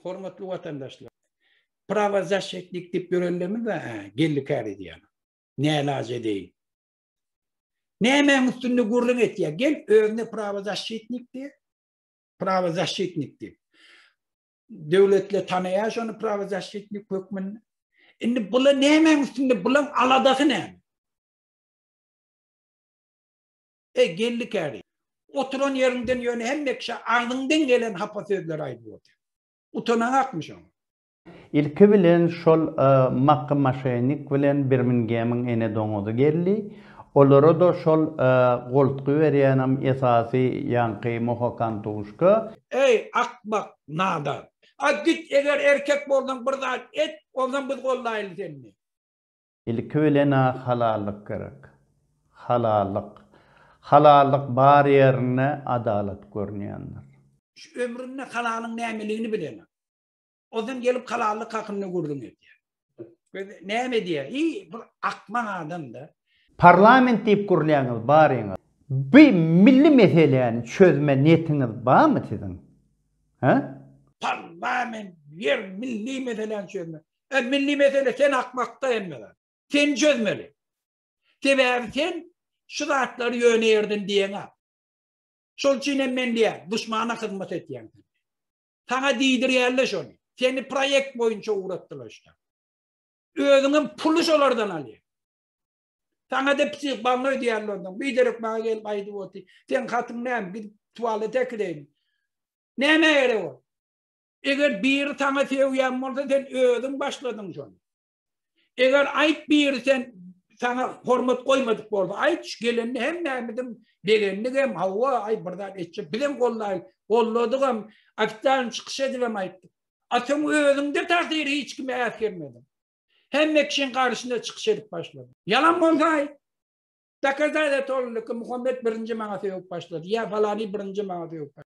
Hormatly watandaşlar, prawa zaşşetnik dip ýörenlerimiz we geldi kär edýän. Nälaç edeýin. Nämäň üstünde gürrüň etýär? Gel özüne prawa zaşşetnik diýe. Prawa zaşşetnik diýip. Döwletle tanaýar şony prawa zaşşetnik hökmünde. Indi bula nämäň üstünde bulaň aladasy näme? Eý, Geldi käri, oturan ýeriňden ýöne hemekşe agzyňdan gelen hapa sözleri aýdyp otur. Utanaňakmy şoňa? Ilki bilen şol Makgy maşenik bilen Birmingemiň ene doňuzy geldi. Olara-da şol goltgy berýänem esasy ýaňky Mohokantuşka. Eý, akmak, nadan. A git, eger erkek bolsaň bir zat et, onsoň biz gollaýaly seni. Ilki bilen-ä halallyk gerek. Halallyk. Halallyk bar ýerinde adalat görünýändir. Şu ömründe halalyň nämeligini bilenok. Ozan gelip halallyk hakynda gürrüň edýär. Biz näme edýäs? Iý, bir akmak adam-da. Parlament diýip gürlýäňiz, baryňyz. Bu milli meseläni çözme netiňiz barmy siziň? He? Parlament, ýer, milli meseläni çözme. Ä milli mesele sen akmakda hemme zat. Sen çözmeli. Sebäbi sen şu zatlary ýöne ýerden diýeňä. Şol üçin hem men diýýän, duşmana hyzmat etýäň. Saňa diýdirýärler şony. Seni proýekt boýunça ugratdylar işte. Özüňem puly şolardan alýaň. Saňa da psih baňňa ödýärler ondan. Biderek maňa gelip aýdyp oty. Sen hatyň näme? Gidip tuwalete kireýin. Näme gerek o? Eger biri saňa sögýän bolsa sen özüň başladyň şony. Eger aýt biri sen saňa hormat goýmadyk bolsa aýt şu gelende hemmämizim begendik hem hawa aý bir zat etjek bizem gollaýyl golladygam ofitsialny çykyş edibem aýtdyk. A sen özüňde tasyr hiç kime äsgermediň. Hemme kişiň garşyna çykyş edip başladyň. Ýalan bolsa aýt. Dokazat et ol ki Muhammet birinji maňa sögüp başlady ýa falany birinji maňa sögüp başlady.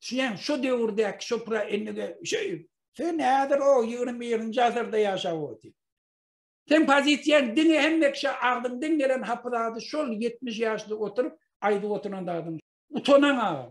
Sen şu döwürdäki şopra enige şeý. Sen häzir o 21-nji asyrda ýaşap otyr. Sen pozisiýaň diňe hemmekşe agzyňdan gelen hapy zady şol 70 ýaşly oturyp aýdyp oturan zadyň. Utanaň agam.